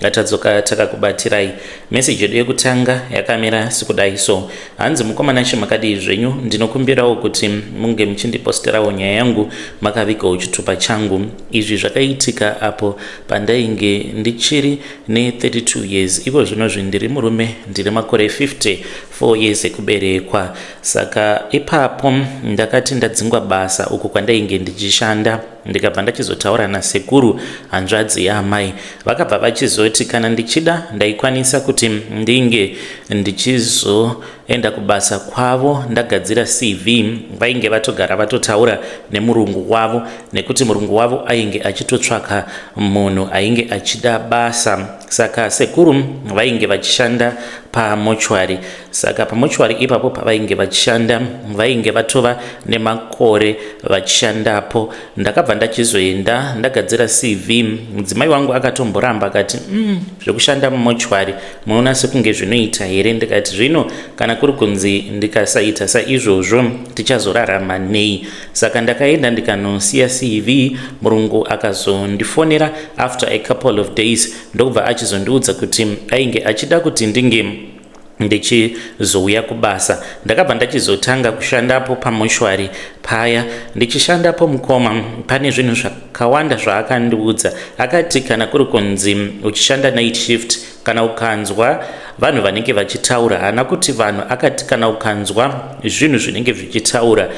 ngatadzoka takakubatirai meseji yedu yekutanga yakamira sikudai so hanzi mukomana she makadii zvenyu ndinokumbirawo kuti munge muchindiposterawo nyaya yangu makavigawo chitupa changu izvi zvakaitika apo pandainge ndichiri ne32 years iko zvino zvi ndiri murume ndiri makore 50 4 years ekuberekwa saka ipapo ndakati ndadzingwa basa uku kwandainge ndichishanda ndikabva ndachizotaura nasekuru hanzvadzi yaamai vakabva vachizoti kana ndichida ndaikwanisa kuti ndinge ndichizoenda kubasa kwavo ndagadzira cv vainge vatogara vatotaura nemurungu wavo nekuti murungu wavo ainge achitotsvaka munhu ainge achida basa saka sekuru vainge vachishanda pamochwari saka pamochwari ipapo pavainge vachishanda vainge vatova nemakore vachishandapo ndakabva ndachizoenda ndagadzira cv mudzimai wangu akatomboramba akati mm, zvekushanda mumochwari munoona sekunge zvinoita here ndikati zvino kana kuri kunzi ndikasaita saizvozvo tichazorarama nei saka ndakaenda ndikanosiya cv murungu akazondifonera after a couple of days ndokubva achizondiudza kuti ainge achida kuti ndinge ndichizouya kubasa ndakabva ndachizotanga kushandapo pamoshwari paya ndichishandapo mukoma pane zvinhu zvakawanda zvaakandiudza akati kana kuri kunzi uchishanda night shift kana ukanzwa vanhu vanenge vachitaura haana kuti vanhu akati kana ukanzwa zvinhu zvinenge zvichitaura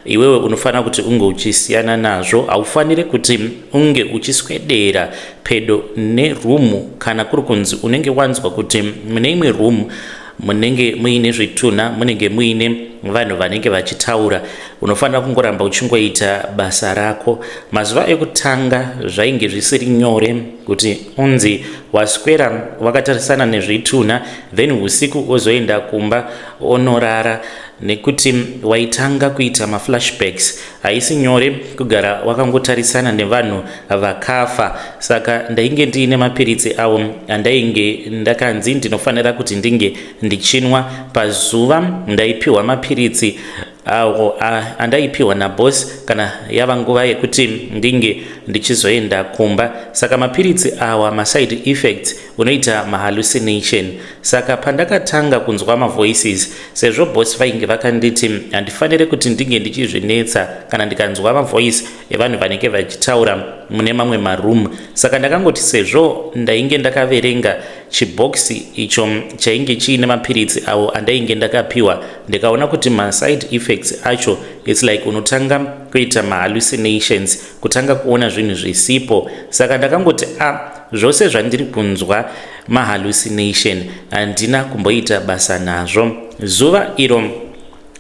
iwewe unofanira kuti unge uchisiyana nazvo haufanire kuti unge uchiswedera pedo nerumu kana kuri kunzi unenge wanzwa kuti mune imwe rumu munenge muine zvitunha munenge muine vanhu vanenge vachitaura unofanira kungoramba uchingoita basa rako mazuva ekutanga zvainge zvisiri nyore kuti unzi waswera wakatarisana nezvitunha then usiku ozoenda kumba onorara nekuti waitanga kuita maflashbacks haisi nyore kugara wakangotarisana nevanhu vakafa saka ndainge ndiine mapiritsi avo andainge ndakanzi ndinofanira kuti ndinge ndichinwa pazuva ndaipiwa mapiritsi awo andaipiwa naboss kana yava nguva yekuti ndinge ndichizoenda kumba saka mapiritsi awa maside effects unoita mahallucination saka pandakatanga kunzwa mavoices sezvo boss vainge vakanditi handifanire kuti ndinge ndichizvinetsa kana ndikanzwa mavoice evanhu vanenge vachitaura mune mamwe maroom saka ndakangoti sezvo ndainge ndakaverenga chibhokisi icho chainge chiine mapiritsi awo andainge ndakapiwa ndikaona kuti maside effects acho its like unotanga kuita mahallucinations kutanga kuona zvinhu zvisipo saka ndakangoti a ah, zvose zvandiri kunzwa mahallucination handina kumboita basa nazvo zuva iro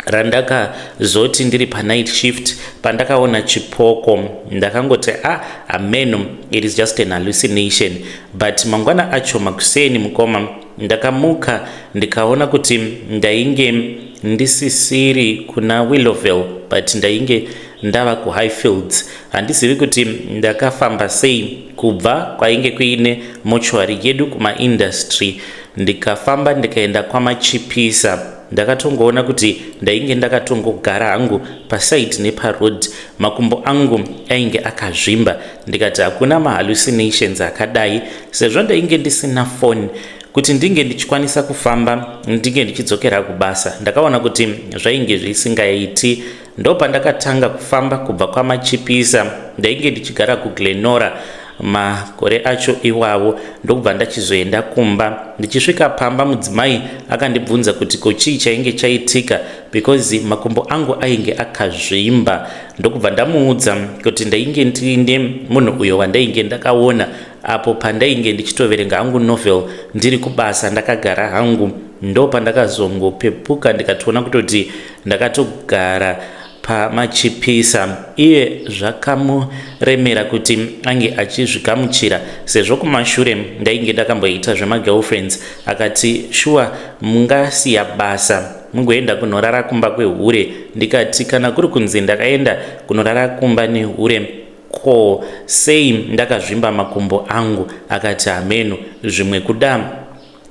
randakazoti ndiri panight shift pandakaona chipoko ndakangoti a ah, ameno it is just an hallucination but mangwana acho makuseni mukoma Ndakamuka ndikaona kuti ndainge ndisisiri kuna Willowville but ndainge ndava kuHighfields. Handizivi kuti ndakafamba sei kubva kwainge kuine mochwari yedu kumaindustry ndikafamba ndikaenda kwamachipisa. Ndakatongoona kuti ndainge ndakatongogara hangu paside neparoad. Makumbo angu ainge akazvimba ndikati hakuna mahallucinations akadai sezvo ndainge ndisina foni kuti ndinge ndichikwanisa kufamba ndinge ndichidzokera kubasa ndakaona kuti zvainge zvisingaiti ndopandakatanga kufamba kubva kwamachipisa ndainge ndichigara kuglenora makore acho iwawo ndokubva ndachizoenda kumba ndichisvika pamba mudzimai akandibvunza kuti ko chii chainge chaitika because makumbo angu ainge akazvimba ndokubva ndamuudza kuti ndainge ndiine munhu uyo wandainge ndakaona apo pandainge ndichitoverenga hangu novel ndiri kubasa ndakagara hangu ndo pandakazongopepuka ndikatoona kutoti ndakatogara pamachipisa iye zvakamuremera kuti ange achizvigamuchira sezvo kumashure ndainge ndakamboita zvemagirlfriends akati shuwa mungasiya basa mungoenda kunorara kumba kwehure ndikati kana kuri kunzi ndakaenda kunorara kumba nehure ko sei ndakazvimba makumbo angu akati hameno zvimwe kuda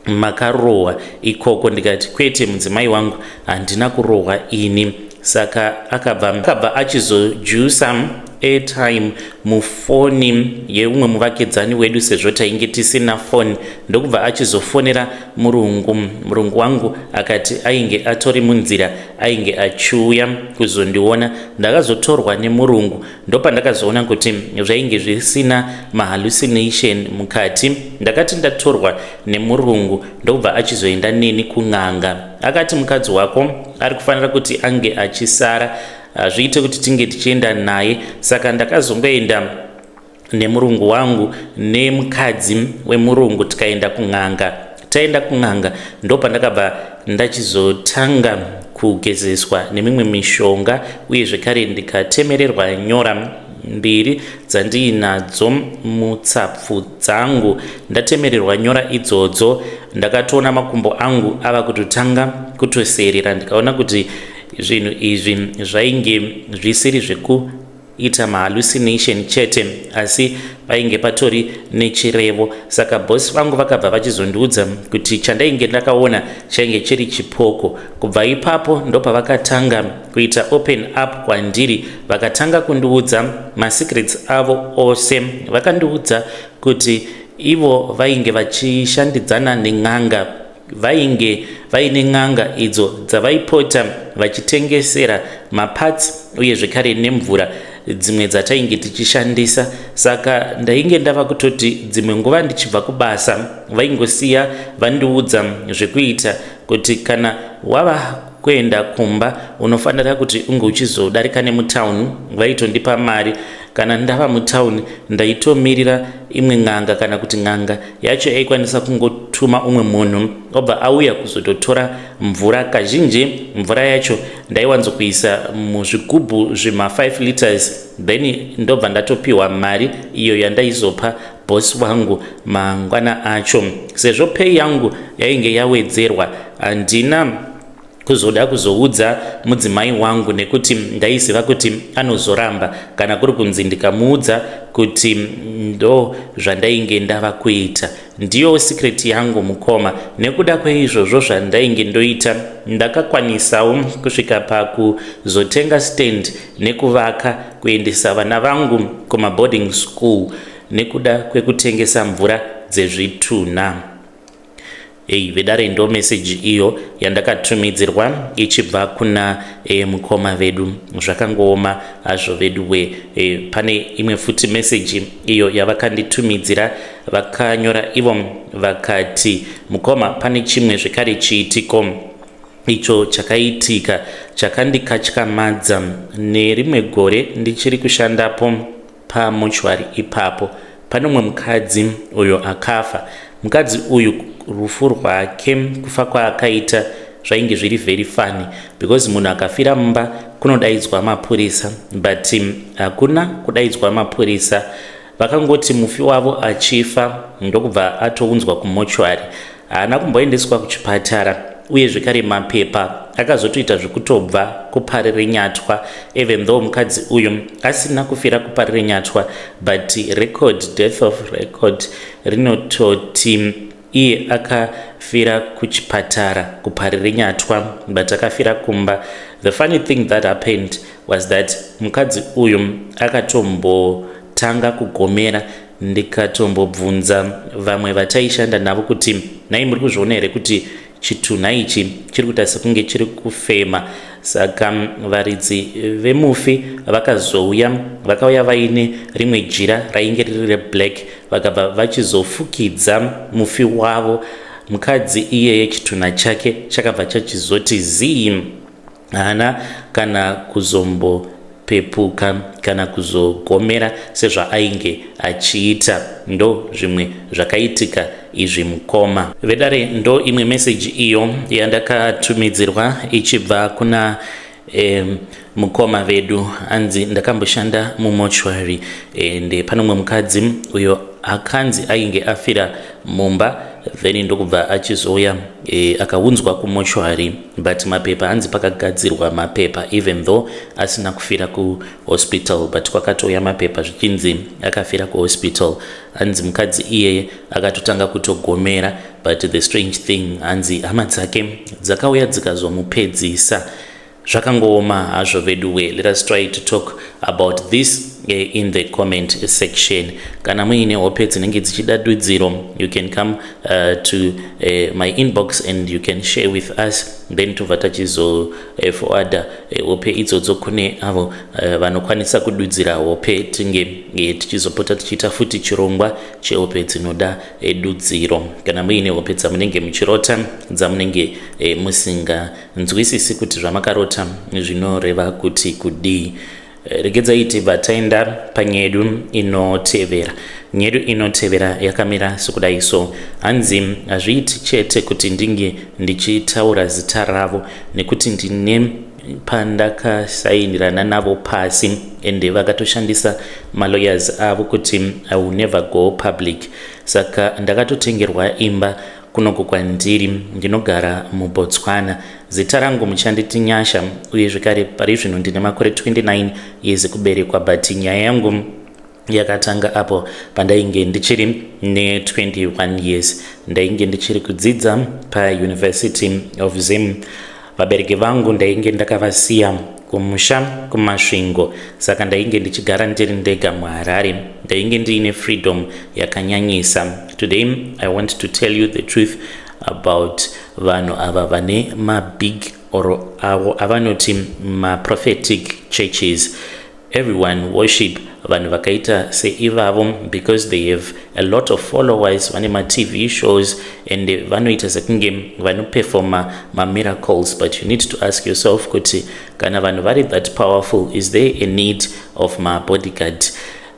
makarohwa ikoko ndikati kwete mudzimai wangu handina kurohwa ini saka akabva akabva achizojusa airtime mufoni yeumwe muvakidzani wedu sezvo tainge tisina foni ndokubva achizofonera murungu murungu wangu akati ainge atori munzira ainge achiuya kuzondiona ndakazotorwa nemurungu ndopandakazoona kuti zvainge zvisina mahallucination mukati ndakati ndatorwa nemurungu ndokubva achizoenda neni kun'anga akati mukadzi wako ari kufanira kuti ange achisara hazviite kuti tinge tichienda naye saka ndakazongoenda nemurungu wangu nemukadzi wemurungu tikaenda kun'anga taenda kun'anga ndopandakabva ndachizotanga kugezeswa nemimwe mishonga uye zvekare ndikatemererwa nyora mbiri dzandiinadzo mutsapfu dzangu ndatemererwa nyora idzodzo ndakatoona makumbo angu ava kutotanga kutoseerera ndikaona kuti zvinhu izvi zvainge zvisiri zveku ita mahallucination chete asi painge patori nechirevo saka bosi vangu vakabva vachizondiudza kuti chandainge ndakaona chainge chiri chipoko kubva ipapo ndopavakatanga kuita open up kwandiri vakatanga kundiudza masecrets avo ose vakandiudza kuti ivo vainge vachishandidzana nen'anga vainge vaine n'anga idzo dzavaipota vachitengesera mapatsi uye zvekare nemvura dzimwe dzatainge tichishandisa saka ndainge ndava kutoti dzimwe nguva ndichibva kubasa vaingosiya vandiudza zvekuita kuti kana wava kuenda kumba unofanira kuti unge uchizodarika nemutauni vaitondipa mari kana ndava mutauni ndaitomirira imwe n'anga kana kuti n'anga yacho yaikwanisa kungotuma umwe munhu obva auya kuzototora mvura kazhinji mvura yacho ndaiwanzokuisa muzvigubhu zvema5 liters then ndobva ndatopiwa mari iyo yandaizopa bosi wangu mangwana acho sezvo pei yangu yainge yawedzerwa handina kuzoda kuzoudza mudzimai wangu nekuti ndaiziva kuti anozoramba kana kuri kunzi ndikamuudza kuti ndo zvandainge ndava kuita ndiyo sikireti yangu mukoma nekuda kweizvozvo zvandainge ndoita ndakakwanisawo kusvika pakuzotenga stand nekuvaka kuendesa vana vangu kumaboarding school nekuda kwekutengesa mvura dzezvitunha Hey, vedare ndo message iyo yandakatumidzirwa ichibva kuna e, mukoma vedu zvakangooma hazvo vedu we e, pane imwe futi message iyo yavakanditumidzira vakanyora ivo vakati mukoma pane chimwe zvekare chiitiko icho chakaitika chakandikatyamadza nerimwe gore ndichiri kushandapo Pamochwari ipapo pane umwe mukadzi uyo akafa. Mukadzi uyu rufu rwake, kufa kwaakaita zvainge zviri very funny because munhu akafira mumba kunodaidzwa mapurisa but um, hakuna kudaidzwa mapurisa vakangoti mufi wavo achifa ndokubva atounzwa kumochwari Haana kumboendeswa kuchipatara uye zvekare mapepa akazotoita zvekutobva kuparirenyatwa even though mukadzi uyu asina kufira kuparirenyatwa but record death of record rinototi iye akafira kuchipatara kuparirenyatwa but akafira kumba the funny thing that happened was that mukadzi uyu akatombotanga kugomera ndikatombobvunza vamwe vataishanda navo kuti nhai muri kuzviona here kuti chitunha ichi chiri kuita sekunge chiri kufema saka varidzi vemufi vakazouya vakauya vaine rimwe jira rainge riri reblack vakabva vachizofukidza mufi wavo mukadzi iyeye chitunha chake chakabva chachizoti zii haana kana kuzombopepuka kana kuzogomera sezvaainge achiita ndo zvimwe zvakaitika izvi mukoma vedare ndo imwe meseji iyo yandakatumidzirwa ichibva kuna eh, mukoma vedu anzi ndakamboshanda mumochwary ende eh, panomwe mukadzi uyo akanzi ainge afira mumba then ndokubva achizouya eh, akaunzwa kumochwary but mapepa hanzi pakagadzirwa mapepa even though asina kufira kuhospital but kwakatouya mapepa zvichinzi akafira kuhospital hanzi mukadzi iyeye akatotanga kutogomera but the strange thing hanzi hama dzake dzakauya dzikazomupedzisa zvakangooma hazvo veduwe let us try to talk about this eh, in the comment section kana muine hope dzinenge dzichida dudziro you can come Uh, to uh, my inbox and you can share with us then tobva tachizo uh, forwarda uh, hope idzodzo kune avo uh, vanokwanisa kududzira hope tinge uh, tichizopota tichiita futi chirongwa chehope dzinoda uh, dudziro kana muine hope dzamunenge muchirota dzamunenge uh, musinganzwisisi kuti zvamakarota zvinoreva kuti kudii Regedzai tibva taenda panyedu inotevera. Nyedu inotevera yakamira sokudai so. Hanzi hazviiti chete kuti ndinge ndichitaura zita ravo nekuti ndine pandakasainirana navo pasi ende vakatoshandisa malawyers avo kuti i will never go public saka ndakatotengerwa imba Kunoku kwandiri ndinogara muBotswana. Zita rangu muchanditi Nyasha uye zvekare pari zvino ndine makore 29 years kuberekwa but nyaya yangu yakatanga apo pandainge ndichiri ne21 years ndainge ndichiri kudzidza pauniversity of zim Vabereki vangu ndainge ndakavasiya kumusha kuMasvingo saka ndainge ndichigara ndiri ndega muHarare. Ndainge ndiine freedom yakanyanyisa. Today I want to tell you the truth about vanhu ava vane mabig or avo avanoti maprophetic churches Everyone worship vanhu vakaita seivavo because they have a lot of followers vane matv shows and vanoita sekunge vanoperfoma mamiracles but you need to ask yourself kuti kana vanhu vari that powerful is there a need of mabodyguard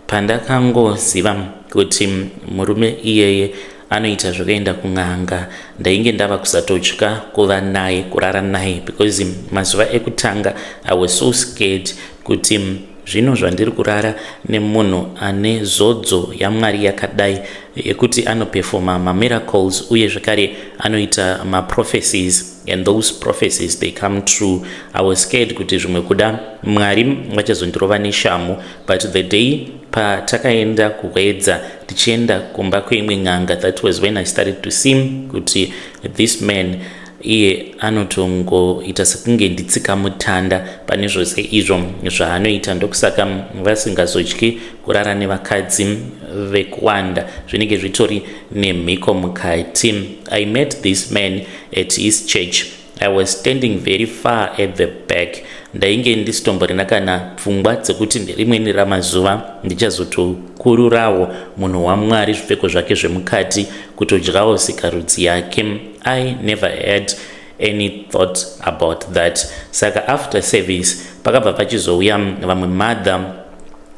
pandakangoziva kuti murume iyeye anoita zvekuenda kun'anga ndainge ndava kusatotya kuva naye kurara naye because mazuva ekutanga i was so scared kuti zvino zvandiri kurara nemunhu ane zodzo yamwari yakadai yekuti anopefoma mamiracles uye zvekare anoita maprophecies and those prophecies they come true i was scared kuti zvimwe kuda mwari vachazondirova neshamhu but the day patakaenda kuhwedza tichienda kumba kweimwe n'anga that was when i started to see kuti this man iye anotongoita sekunge nditsika mutanda pane zvose izvo zvaanoita ndokusaka vasingazodyi kurara nevakadzi vekuwanda zvinenge zvitori nemhiko mukati i met this man at his church I was standing very far at the back ndainge ndisitomborina kana pfungwa dzekuti nerimweni ramazuva ndichazotokururawo munhu wamwari zvipfeko zvake zvemukati kutodyawo sikarudzi yake i never had any thought about that saka after service pakabva pachizouya vamwe mother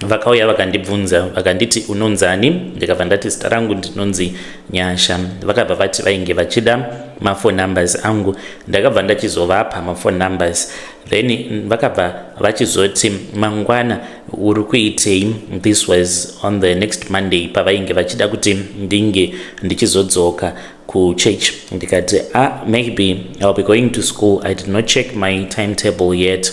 vakauya vakandibvunza vakanditi unonzani ndikabva ndati zita rangu ndinonzi nyasha vakabva vati vainge vachida mafone numbers angu ndakabva ndachizovapa mafone numbers then vakabva vachizoti mangwana uri kuitei this was on the next monday pavainge vachida kuti ndinge ndichizodzoka kuchurch ndikati ah maybe ill be going to school i did not check my timetable yet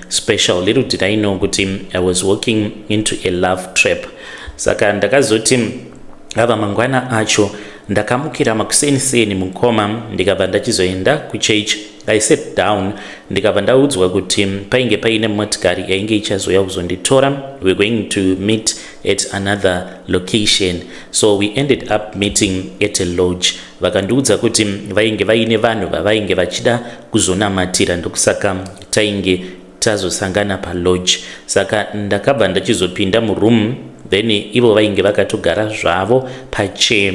special little did i know kuti i was walking into a love trap saka ndakazoti ava mangwana acho ndakamukira makuseni seni mukoma ndikabva ndachizoenda kuchurch i sat down ndikabva ndaudzwa kuti painge paine motikari yainge ichazouya kuzonditora we're going to meet at another location so we ended up meeting at a lodge vakandiudza kuti vainge vaine vanhu vavainge vachida kuzonamatira ndokusaka tainge tazosangana palodge saka ndakabva ndachizopinda muroom then ivo vainge vakatogara zvavo pachair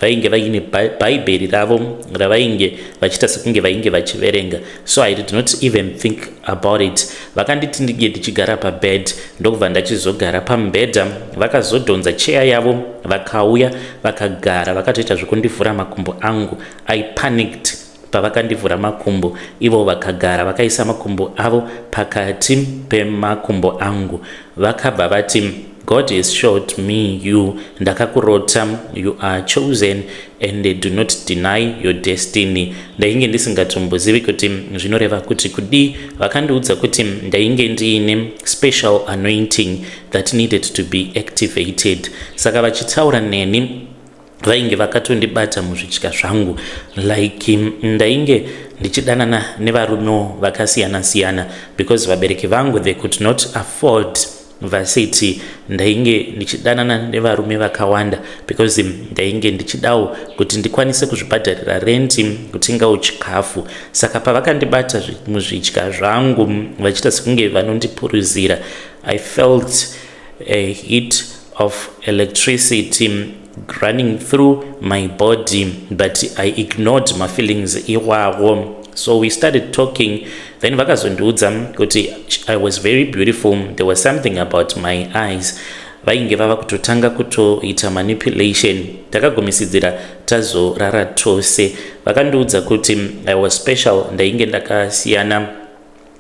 vainge vaine bhaibheri ravo ravainge vachiita sekunge vainge vachiverenga so i did not even think about it vakanditi ndinge ndichigara pabed ndokubva ndachizogara pamubhedha vakazodhonza cheya yavo vakauya vakagara vakatoita zvekundivhura makumbo angu i panicked pavakandivhura makumbo ivo vakagara vakaisa makumbo avo pakati pemakumbo angu vakabva vati god is short me you ndakakurota you are chosen and they do not deny your destiny ndainge ndisingatombozivi kuti zvinoreva kuti kudii vakandiudza kuti ndainge ndiine special anointing that needed to be activated saka vachitaura neni vainge vakatondibata muzvidya zvangu like mm, ndainge ndichidanana nevarumewo vakasiyana siyana because vabereki vangu they could not afford vasiti ndainge ndichidanana nevarume vakawanda because mm, ndainge ndichidawo kuti ndikwanise kuzvibhadharira renti mm, kutengawo chikafu saka pavakandibata muzvidya zvangu vachita sekunge vanondipuruzira i felt a heat of electricity running through my body but i ignored my feelings iwawo so we started talking then vakazondiudza kuti i was very beautiful there was something about my eyes vainge vava kutotanga kutoita manipulation takagumisidzira tazorara tose vakandiudza kuti i was special ndainge ndakasiyana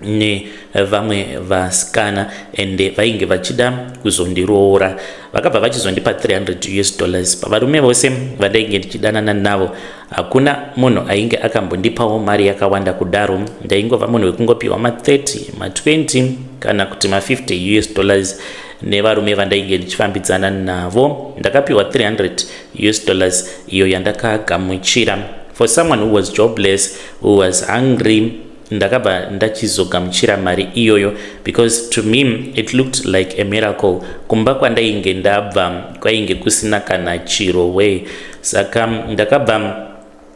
nevamwe vasikana ende vainge vachida kuzondiroora vakabva vachizondipa 300 us dollars pavarume vose vandainge ndichidanana navo hakuna munhu ainge akambondipawo mari yakawanda kudaro ndaingova munhu wekungopiwa ma30 ma20 kana kuti ma50 us dollars nevarume vandainge ndichifambidzana navo ndakapiwa 300 us dollars iyo yandakagamuchira for someone who was jobless who was hungry ndakabva ndachizogamuchira mari iyoyo because to me it looked like a miracle kumba kwandainge ndabva kwainge kusina kana chiro way saka ndakabva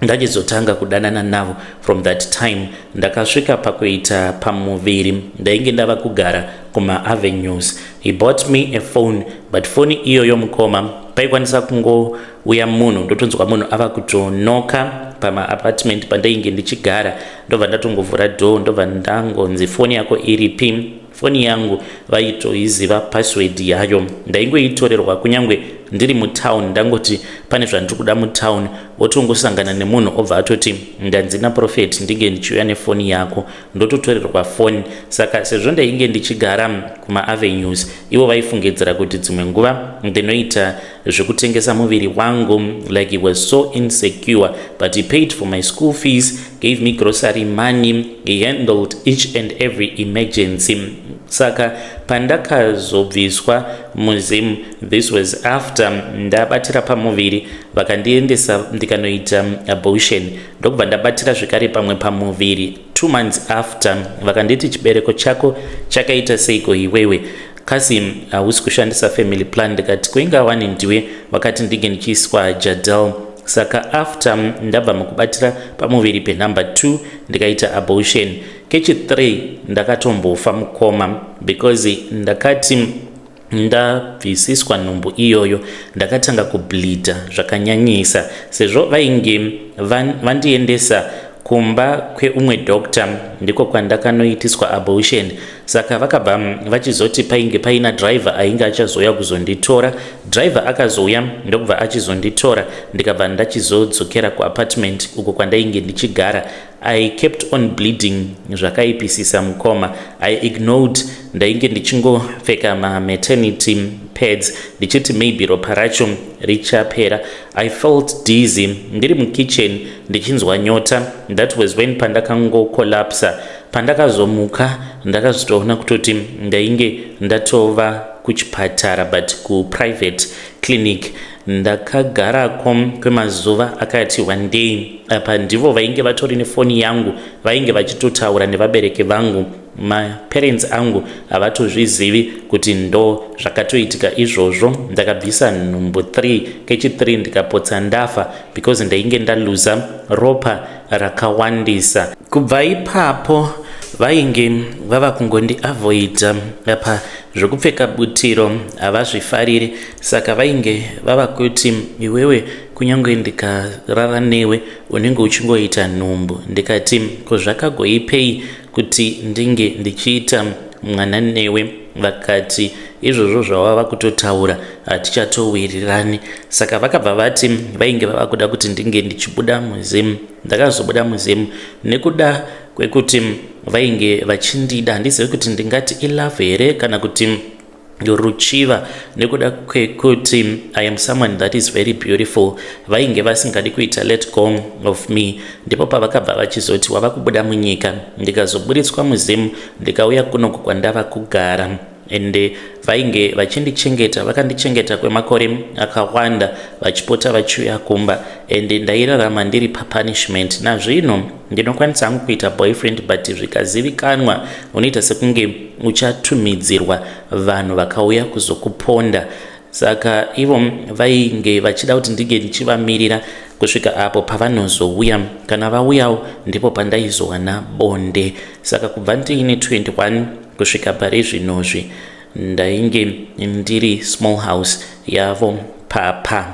ndachizotanga kudanana navo from that time ndakasvika pakuita pamuviri ndainge ndava kugara kumaavenues he bought me a phone but foni iyoyo mukoma paikwanisa kungo uya munhu ndotonzwa munhu ava kutonoka pamaapartment pandainge ndichigara ndobva ndatongovhura door ndobva ndangonzi foni yako iripi foni yangu vaitoiziva password yayo ndaingoitorerwa kunyange ndiri mutown ndangoti pane zvandiri kuda mutown votongosangana nemunhu obva atoti ndanzi naprofet ndinge ndichiuya nefoni yako ndototorerwa foni saka sezvo ndainge ndichigara kumaavenues ivo vaifungidzira kuti dzimwe nguva ndinoita zvekutengesa muviri wangu like he was so insecure but he paid for my school fees gave me grocery money he handled each and every emergency saka pandakazobviswa muzim this was after ndabatira pamuviri vakandiendesa ndikanoita abortion ndokubva ndabatira zvekare pamwe pamuviri two months after vakanditi chibereko chako chakaita seiko iwewe kasi hausi kushandisa family plan ndikati kuinga wani ndiwe vakati ndinge ndichiiswa jadel saka after ndabva mukubatira pamuviri penumber 2 ndikaita abortion kechi 3 ndakatombofa mukoma because ndakati ndabvisiswa nhumbu iyoyo ndakatanga kubleedha zvakanyanyisa sezvo vainge vandiendesa kumba kweumwe doctor ndiko kwandakanoitiswa abortion saka vakabva vachizoti painge paina driver ainge achazouya kuzonditora driver akazouya ndokubva achizonditora ndikabva ndachizodzokera kuapartment uko kwandainge ndichigara I kept on bleeding zvakaipisisa mukoma. I ignored ndainge ndichingopfeka ma maternity pads ndichiti maybe ropa racho richapera. I felt dizzy ndiri mukitchen ndichinzwa nyota. That was when pandakango collapsa. Pandakazomuka ndakazvitoona kutoti ndainge ndatova kuchipatara but ku private clinic. Ndakagarako kwemazuva akati wandei. Apa ndivo vainge vatori nefoni yangu vainge vachitotaura nevabereki vangu. Maparents angu havatozvizivi kuti ndo zvakatoitika izvozvo. Ndakabvisa nhumbu 3 kechi 3 ndikapotsa ndafa because ndainge ndaluza ropa rakawandisa. Kubva ipapo vainge vava kungondi avoida apa zvekupfeka butiro havazvifariri saka vainge vava kuti iwewe kunyange ndikarara newe unenge uchingoita nhumbu ndikati ko zvakagoipei kuti ndinge ndichiita mwana newe vakati izvozvo zvawava kutotaura hatichatowirirani saka vakabva vati vainge vava kuda kuti ndinge ndichibuda muzimu ndakazobuda muzimu nekuda kwekuti vainge vachindida handizive kuti ndingati ilove here kana kuti ruchiva nekuda kwekuti i am someone that is very beautiful vainge vasingadi kuita let go of me ndipo pavakabva vachizoti wava kubuda munyika ndikazoburitswa muzimu ndikauya kunoku kwandava kugara ende vainge vachindichengeta vakandichengeta kwemakore akawanda vachipota vachiuya kumba ende ndairarama ndiri papunishment nazvino ndinokwanisa hangu kuita boyfriend but zvikazivikanwa unoita sekunge uchatumidzirwa vanhu vakauya kuzokuponda saka ivo vainge vachida kuti ndinge ndichivamirira kusvika apo pavanozouya kana vauyawo ndipo pandaizowana bonde saka kubva ndiine 21 kusvika pari zvinozvi ndainge ndiri small house yavo papa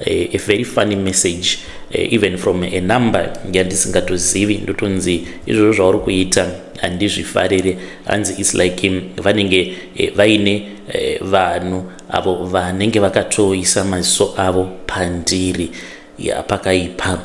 Eh, a very funny message eh, even from a number yandisingatozivi ndotonzi izvozvo zvauri kuita handizvifarire hanzi is like um, vanenge eh, vaine vanhu avo vanenge vakatoisa maziso avo pandiri ya pakaipa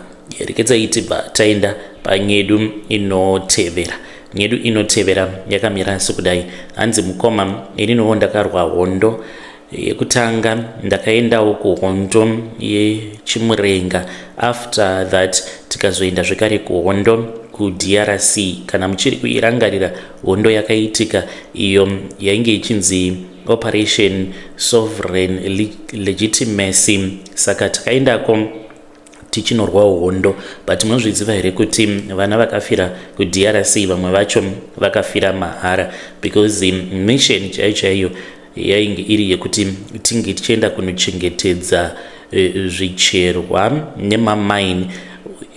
rekedza iti bva taenda panyedu inotevera nyedu inotevera yakamira asi kudai hanzi mukoma ini novo ndakarwa hondo yekutanga ndakaenda uko hondo yechimurenga after that tikazoenda zvekare kuhondo kudrc kana muchiri kuirangarira hondo yakaitika iyo yainge ichinzi operation sovereign legitimacy saka takaendako tichinorwawo hondo but munozviziva here kuti vana vakafira kudrc vamwe vacho vakafira mahara because mission chaiyo chaiyo yainge iri yekuti tinge tichienda kunochengetedza e, zvicherwa nemamaini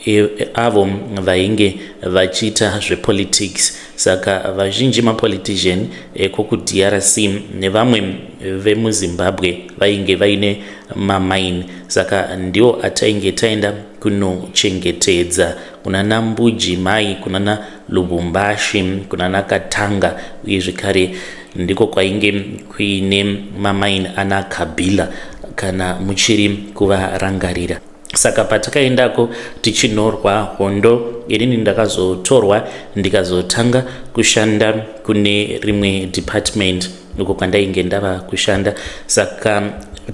e, avo vainge vachiita zvepolitics Saka vazhinji mapolitician eko kuDRC nevamwe vemuZimbabwe vainge vaine mamine saka ndiwo atainge taenda kunochengetedza kunana Mbuji mai kunana Lubumbashi kunana Katanga uye zvekare ndiko kwainge kuine mamine ana Kabila kana muchiri kuvarangarira. saka patakaendako tichinorwa hondo inini ndakazotorwa ndikazotanga kushanda kune rimwe department uko kwandainge ndava kushanda saka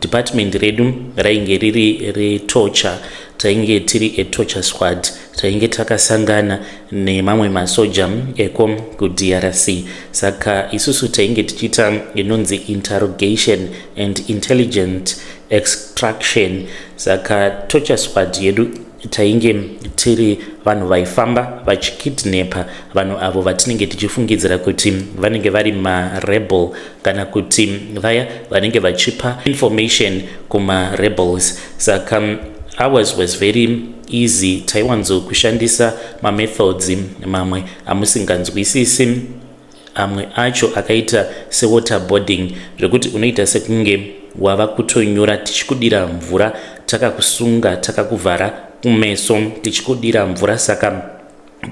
department redu rainge riri retorture tainge tiri etorture squad tainge takasangana nemamwe masoja eko kudrc saka isusu tainge tichiita inonzi interrogation and intelligent extraction saka torture squad yedu tainge tiri vanhu vaifamba vachikidnepa vanhu avo vatinenge tichifungidzira kuti vanenge vari marebel kana kuti vaya vanenge vachipa information kumarebels saka ours was very easy taiwanzokushandisa mamethods mamwe amusinganzwisisi amwe acho akaita sewaterboarding zvekuti unoita sekunge wava kutonyura tichikudira mvura takakusunga takakuvhara kumeso tichikudira mvura saka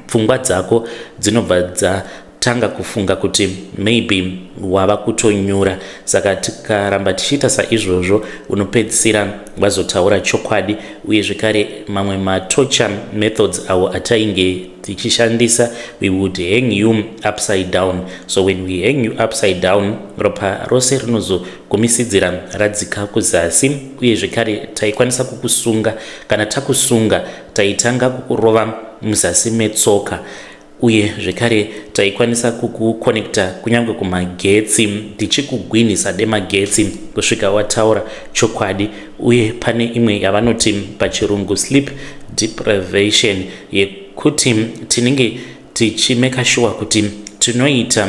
pfungwa dzako dzinobva dza tanga kufunga kuti maybe wava kutonyura saka tikaramba tichiita saizvozvo unopedzisira vazotaura chokwadi uye zvekare mamwe matocha methods awo atainge tichishandisa we would hang you upside down so when we hang you upside down ropa rose rinozogumisidzira radzika kuzasi uye zvekare taikwanisa kukusunga kana takusunga taitanga kukurova muzasi metsoka uye zvekare taikwanisa kukukonekta kunyange kumagetsi tichikugwinhisa demagetsi kusvika wataura chokwadi uye pane imwe yavanoti pachirungu sleep deprivation yekuti tinenge tichimeka shuwa kuti tinoita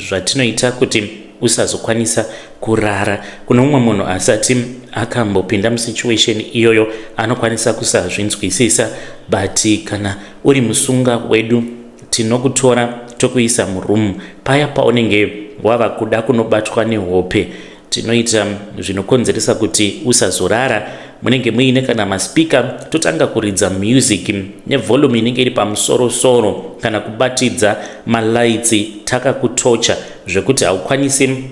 zvatinoita kuti usazokwanisa kurara kune umwe munhu asati akambopinda musituation iyoyo anokwanisa kusazvinzwisisa but kana uri musunga wedu tinokutora tokuisa muroom paya paunenge wava kuda kunobatwa nehope tinoita zvinokonzeresa kuti usazorara munenge muine kana maspika totanga kuridza music nevolume inenge iri pamusoro soro kana kubatidza malaitsi takakutocha zvekuti haukwanisi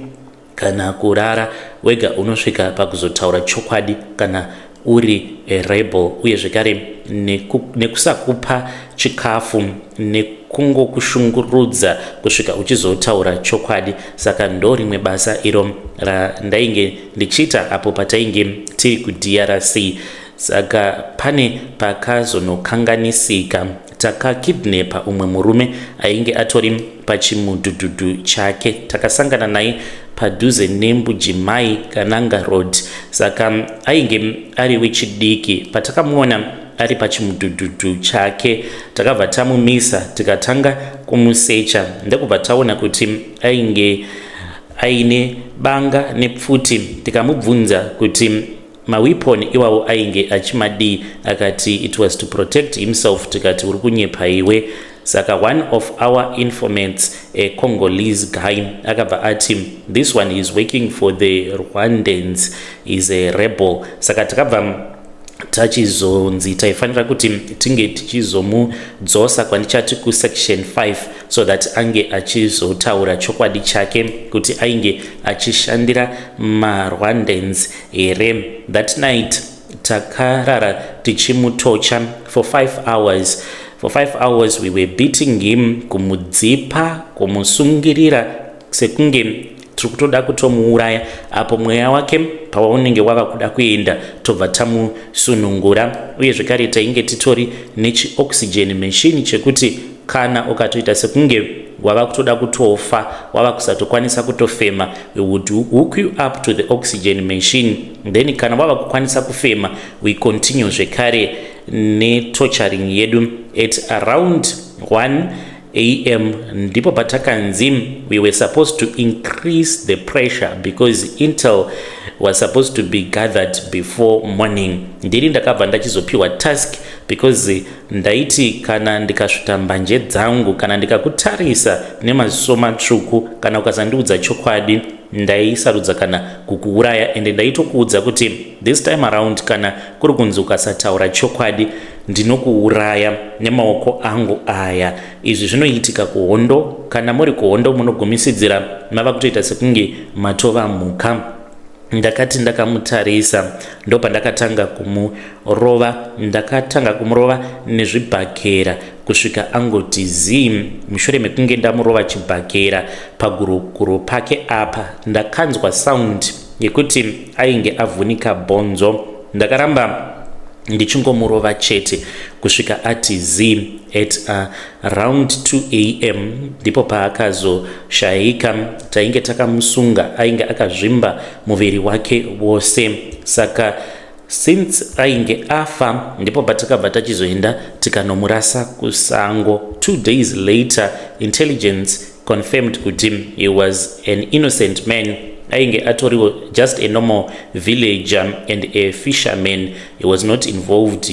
kana kurara wega unosvika pakuzotaura chokwadi kana uri rebel uye zvekare nekusakupa chikafu nekungokushungurudza kusvika uchizotaura chokwadi saka ndo rimwe basa iro randainge ndichiita apo patainge tiri kudrc saka pane pakazonokanganisika takakidnepa umwe murume ainge atori pachimudhudhudhu chake takasangana naye padhuze nembujimai kananga road saka ainge ari wechidiki patakamuona ari pachimudhudhudhu chake takabva tamumisa tikatanga kumusecha ndekubva taona kuti ainge aine banga nepfuti tikamubvunza kuti maweapon iwawo ainge achimadii akati it was to protect himself tikati uri kunyepa iwe saka one of our informats a congolese guy akabva ati this one is working for the rwandans is a rebel saka takabva tachizonzi taifanira kuti tinge tichizomudzosa kwandichati kusection 5 so that ange achizotaura chokwadi chake kuti ainge achishandira marwandans here that night takarara tichimutocha for 5 hours for 5 hours we were beating him kumudzipa kumusungirira sekunge tiri kutoda kutomuuraya apo mweya wake pawaunenge wava kuda kuenda tobva tamusunungura uye zvekare tainge titori nechioxygen machine chekuti kana ukatoita sekunge wava kutoda kutofa wava kusatokwanisa kutofema we would hook you up to the oxygen machine then kana wava kukwanisa kufema we continue zvekare netocharing yedu at around 1 am ndipo patakanzi we were supposed to increase the pressure because intel was supposed to be gathered before morning ndiri ndakabva ndachizopiwa task because Ndaiti kana ndikasvuta mbanje dzangu kana ndikakutarisa nemaziso matsvuku kana ukasandiudza chokwadi ndaisarudza kana kukuuraya ende ndaitokuudza kuti this time around kana kuri kunzi ukasataura chokwadi ndinokuuraya nemaoko angu aya izvi zvinoitika kuhondo kana muri kuhondo munogumisidzira mava kutoita sekunge matova mhuka ndakati ndakamutarisa ndopandakatanga kumurova ndakatanga kumurova nezvibhakera kusvika angoti zim mushure mekunge ndamurova chibhakera pagurokuro pake apa ndakanzwa sound yekuti ainge avhunika bhonzo ndakaramba ndichingomurova chete kusvika ati zim at uh, Round 2 am ndipo paakazoshaika, tainge takamusunga ainge akazvimba muviri wake wose saka since ainge afa ndipo patakabva tachizoenda tikanomurasa kusango. Two days later intelligence confirmed kuti he was an innocent man ainge atoriwo just a normal villager and a fisherman he was not involved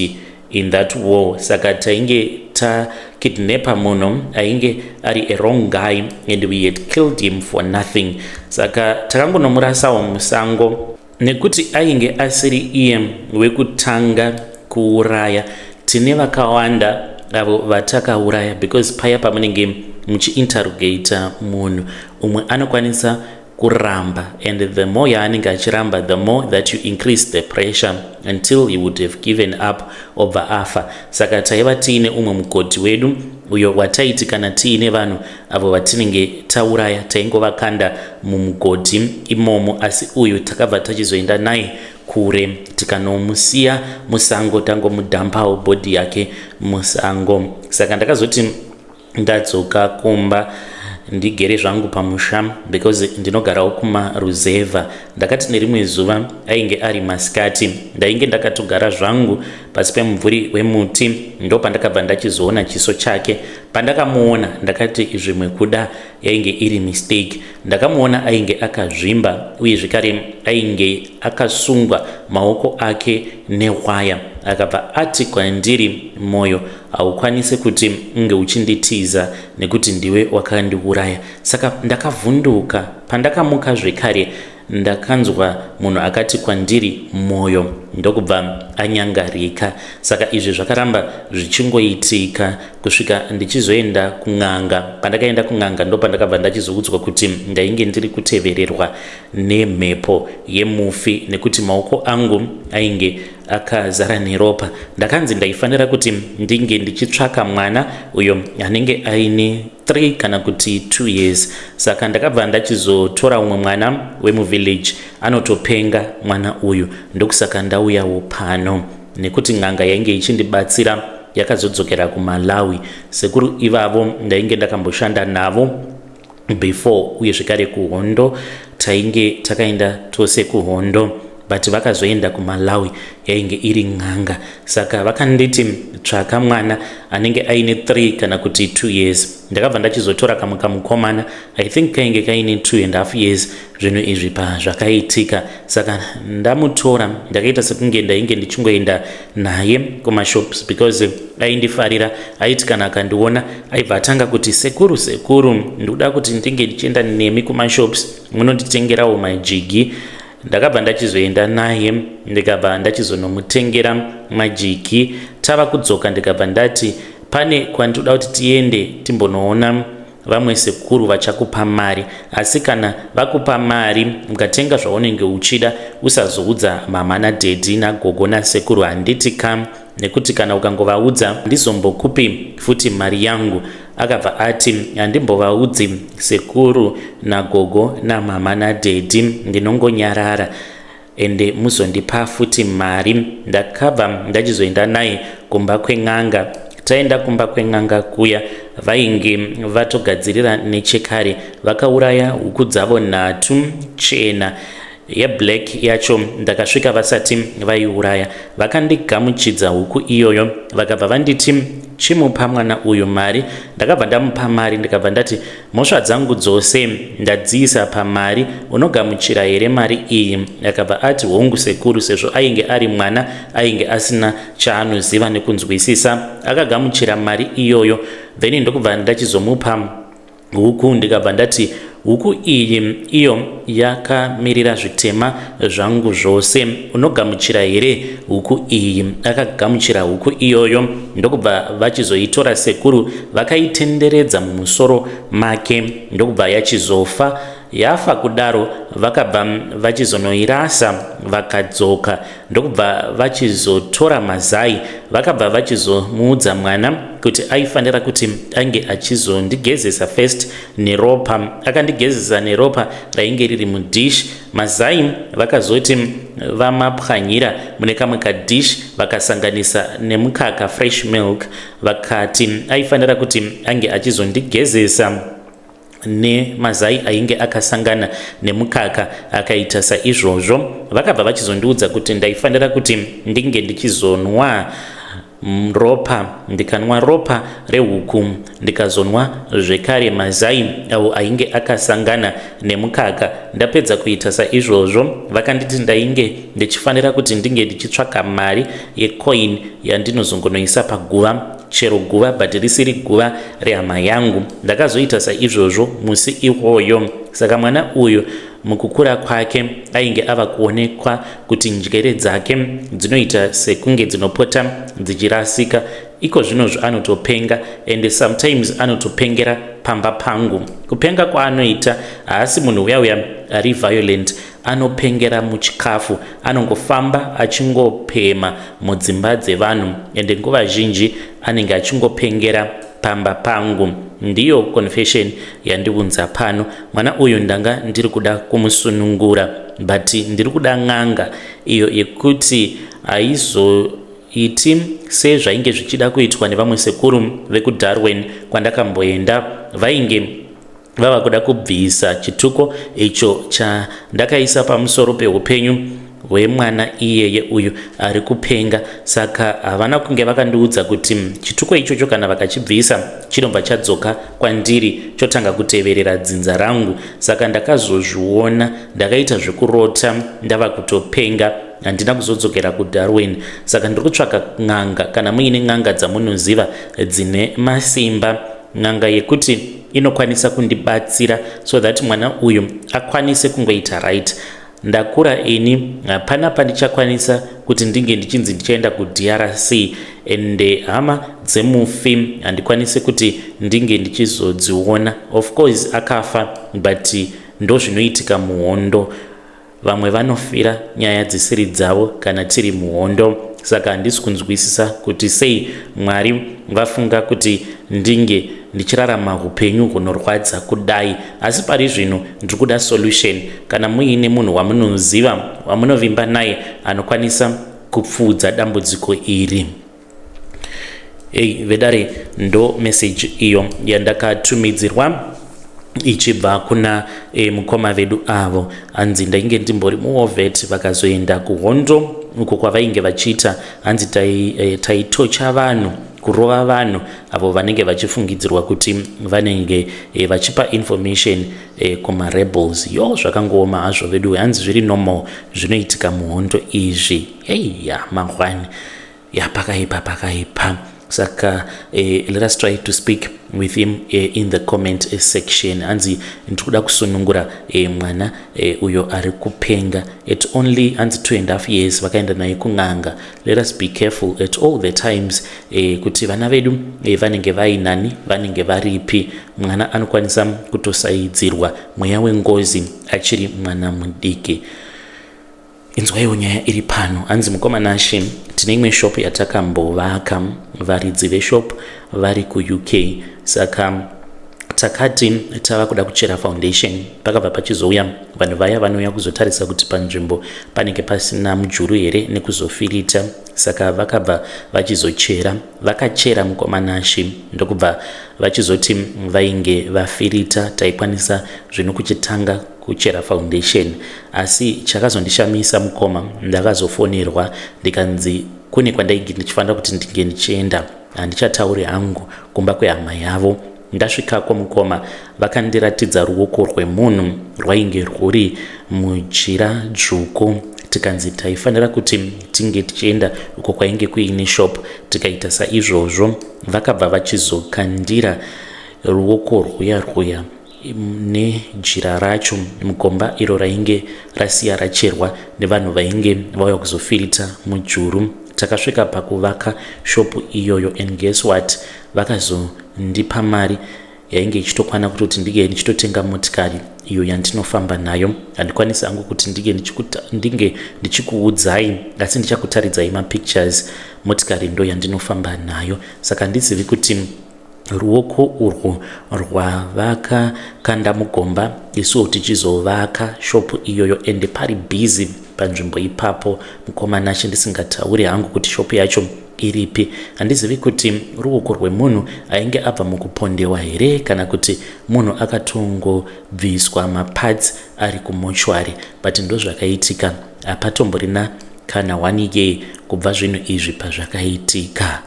in that war saka tainge takidnapper munhu ainge ari a wrong guy and we had killed him for nothing saka takangonomurasawo musango nekuti ainge asiri iye wekutanga kuuraya tine vakawanda avo vatakauraya because paya pamunenge muchiinterrogator munhu umwe anokwanisa kuramba and the more yaanenge achiramba the more that you increase the pressure until he would have given up obva afa saka taiva tiine umwe mugodhi wedu uyo wataiti kana tiine vanhu avo vatinenge tauraya taingovakanda mumugodhi imomo asi uyu takabva tachizoenda naye kure tikanomusiya musango tangomudhampawo bhodhi yake musango saka ndakazoti ndadzoka kumba ndigere zvangu pamusha because ndinogarawo kumaruzevha ndakati nerimwe zuva ainge ari masikati ndainge ndakatogara zvangu pasi pemumvuri wemuti ndopandakabva ndachizoona chiso chake pandakamuona ndakati zvimwe kuda yainge iri mistake ndakamuona ainge akazvimba uye zvekare ainge akasungwa maoko ake nehwaya akabva ati kwandiri mwoyo haukwanise kuti unge uchinditiza nekuti ndiwe wakandiuraya saka ndakavhunduka pandakamuka zvekare Ndakanzwa munhu akati kwandiri moyo ndokubva anyangarika. Saka izvi zvakaramba zvichingoitika kusvika ndichizoenda kun'anga. Pandakaenda kun'anga ndopandakabva ndachizoudzwa kuti ndainge ndiri kutevererwa nemhepo yemufi nekuti maoko angu ainge akazara neropa. Ndakanzi ndaifanira kuti ndinge ndichitsvaka mwana uyo anenge aine 3 kana kuti 2 years saka ndakabva ndachizotora umwe mwana wemuvillage anotopenga mwana uyu ndokusaka ndauyawo pano nekuti n'anga yainge ichindibatsira yakazodzokera kumalawi sekuru ivavo ndainge ndakamboshanda navo before uye zvekare kuhondo tainge takaenda tose kuhondo but vakazoenda kumalawi yainge iri n'anga saka vakanditi tsvaka mwana anenge aine 3 kana kuti 2 years ndakabva ndachizotora kamwe kamukomana i think kainge kaine 2 and half years zvinhu izvi pazvakaitika saka ndamutora ndakaita sekunge ndainge ndichingoenda naye kumashops because aindifarira aiti kana akandiona aibva atanga kuti sekuru sekuru ndikuda kuti ndinge ndichienda nemi kumashops munonditengerawo majigi ndakabva ndachizoenda naye ndikabva ndachizonomutengera majiki tava kudzoka ndikabva ndati pane kwanditoda kuti tiende timbonoona vamwe sekuru vachakupa mari asi kana vakupa mari ukatenga zvaunenge uchida usazoudza mama nadhedhi nagogo nasekuru handiti kam nekuti kana ukangovaudza ndizombokupi futi mari yangu Akabva ati, handimbovaudzi sekuru nagogo namama nadhedhi ndinongonyarara ende muzondipa futi mari. Ndakabva ndachizoenda naye kumba kwen'anga. Taenda kumba kwen'anga kuya vainge vatogadzirira nechekare vakauraya huku dzavo nhatu chena yeblack yacho ndakasvika vasati vaiuraya vakandigamuchidza huku iyoyo vakabva vanditi chimupa mwana uyu mari ndakabva ndamupa mari ndikabva ndati mhosva dzangu dzose ndadziisa pamari unogamuchira here mari iyi akabva ati hongu sekuru sezvo ainge ari mwana ainge asina chaanoziva nekunzwisisa akagamuchira mari iyoyo then ndokubva ndachizomupa Huku ndikabva ndati huku iyi iyo yakamirira zvitema zvangu zvose unogamuchira here huku iyi akagamuchira huku iyoyo ndokubva vachizoitora sekuru vakaitenderedza mumusoro make ndokubva yachizofa yafa kudaro vakabva vachizonoirasa vakadzoka ndokubva vachizotora mazai vakabva vachizomuudza mwana kuti aifanira kuti ange achizondigezesa first neropa akandigezesa neropa rainge riri mudish mazai vakazoti vamapwanyira mune kamwe kadish vakasanganisa nemukaka fresh milk vakati aifanira kuti ange achizondigezesa nemazai ainge akasangana nemukaka akaita saizvozvo vakabva vachizondiudza kuti ndaifanira kuti ndinge ndichizonwa ropa ndikanwa ropa rehuku ndikazonwa zvekare mazai avo ainge akasangana nemukaka ndapedza kuita saizvozvo vakanditi ndainge ndichifanira kuti ndinge ndichitsvaka mari yecoin yandinozongonoisa paguva chero guva but risiri guva rehama yangu ndakazoita saizvozvo musi iwoyo saka mwana uyu mukukura kwake ainge ava kuonekwa kuti njere dzake dzinoita sekunge dzinopota dzichirasika iko zvino zvaanotopenga and sometimes anotopengera pamba pangu kupenga kwaanoita haasi munhu uya uya ari violent anopengera muchikafu anongofamba achingopema mudzimba dzevanhu ende nguva zhinji anenge achingopengera pamba pangu ndiyo confession yandiunza pano mwana uyu ndanga ndiri kuda kumusunungura but ndiri kuda n'anga iyo yekuti aizo iti sezvainge zvichida kuitwa nevamwe sekuru vekudarwin kwandakamboenda vainge vava kuda kubvisa chituko icho chandakaisa pamusoro peupenyu hwemwana iyeye uyu ari kupenga saka havana kunge vakandiudza kuti chituko ichocho kana vakachibvisa chinobva chadzoka kwandiri chotanga kuteverera dzinza rangu saka ndakazozviona ndakaita zvekurota ndava kutopenga handina kuzodzokera kudarwin saka ndiri kutsvaka n'anga kana muine n'anga dzamunoziva dzine masimba n'anga yekuti inokwanisa kundibatsira so that mwana uyu akwanise kungoita right ndakura ini hapana pandichakwanisa kuti ndinge ndichinzi ndichaenda kudrc ende hama dzemufi handikwanise kuti ndinge ndichizodziona of course akafa but ndozvinoitika muhondo vamwe vanofira nyaya dzisiri dzavo kana tiri muhondo saka handisi kunzwisisa kuti sei mwari vafunga kuti ndinge ndichirarama upenyu hunorwadza kudai asi pari zvino ndiri kuda solution kana muine munhu wamunoziva wamunovimba naye anokwanisa kupfuudza dambudziko iri Hey, vedare ndo message iyo yandakatumidzirwa ichibva kuna e, mukoma vedu avo hanzi ndainge ndimbori muovet vakazoenda kuhondo uko kwavainge vachiita hanzi eh, taitocha tai vanhu kurova vanhu avo vanenge vachifungidzirwa kuti vanenge e, vachipa information e, kumarebels yo zvakangooma hazvo veduwe hanzi zviri normal zvinoitika muhondo izvi eya mahwani ya pakaipa pakaipa saka eh, let us try to speak with him eh, in the comment eh, section hanzi ndiri kuda kusunungura eh, mwana eh, uyo ari kupenga at only hanzi two and half years vakaenda naye kun'anga let us be careful at all the times eh, kuti vana vedu eh, vanenge vainani vanenge varipi mwana anokwanisa kutosaidzirwa mweya wengozi achiri mwana mudiki Inzwaiwo nyaya iri pano. Hanzi mukoma Nashe tine imwe shop yatakambovaka varidzi veshop vari kuUK saka takati tava kuda kuchera foundation pakabva pachizouya vanhu vaya vanouya kuzotarisa kuti panzvimbo panenge pasina mujuru here nekuzofirita saka vakabva vachizochera vakachera mukoma Nashe ndokubva vachizoti vainge vafirita taikwanisa zvino kuchitanga kuchera foundation asi chakazondishamisa mukoma ndakazofonerwa ndikanzi kune kwandainge ndichifanira kuti ndinge ndichienda handichatauri hangu kumba kwehama yavo ndasvikako mukoma vakandiratidza ruoko rwemunhu rwainge rwuri mujira dzvuku tikanzi taifanira kuti tinge tichienda uko kwainge kuine shop tikaita saizvozvo vakabva vachizokandira ruoko rwuya rwuya nejira racho mugomba iro rainge rasiya racherwa nevanhu vainge vauya kuzofirita mujuru takasvika pakuvaka shopu iyoyo and guess what vakazondipa mari yainge ichitokwana kutoti ndinge ndichitotenga motikari iyo yandinofamba nayo handikwanisi hangu kuti ndinge ndinge ndichikuudzai asi ndichakutaridzai mapictures motikari ndo yandinofamba nayo saka handizivi kuti Ruoko urwo rwavakakanda mugomba isuwo tichizovaka shopu iyoyo ende pari busy panzvimbo ipapo mukoma Nashe ndisingatauri hangu kuti shopu yacho iripi handizivi kuti ruoko rwemunhu ainge abva mukupondewa here kana kuti munhu akatongobviswa maparts ari kumochwari but ndozvakaitika hapatomborina kana one year kubva zvinhu izvi pazvakaitika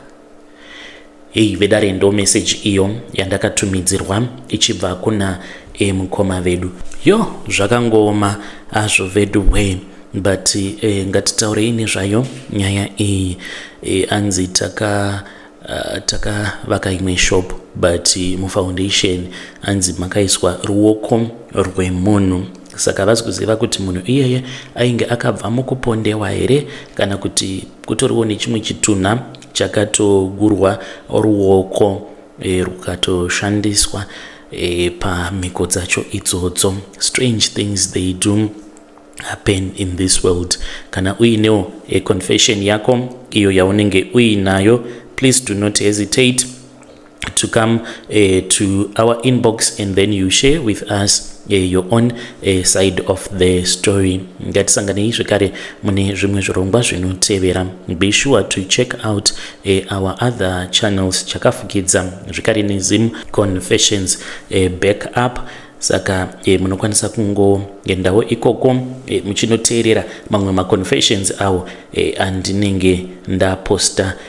Hey vedare ndo message iyo yandakatumidzirwa ichibva kuna e mukoma vedu. Yo zvakangooma azvo vedu way but e, ngatitaurei nezvayo nyaya iyi e, anzi taka uh, takavaka imwe shop but mufoundation anzi makaiswa ruoko rwemunhu saka havasi kuziva kuti munhu iyeye ainge akabva mukupondewa here kana kuti kutoriwo nechimwe chitunha chakatogurwa ruoko e, rukatoshandiswa e, pamhiko dzacho idzodzo strange things they do happen in this world kana uinewo e, confession yako iyo yaunenge uinayo please do not hesitate to come uh, to our inbox and then you share with us uh, your own uh, side of the story ngatisanganei zvekare mune zvimwe zvirongwa zvinotevera be sure to check out uh, our other channels chakafukidza zvekare nezim confessions uh, back up saka e, munokwanisa kungoendawo ikoko e, muchinoteerera mamwe maconfessions awo e, andinenge ndaposta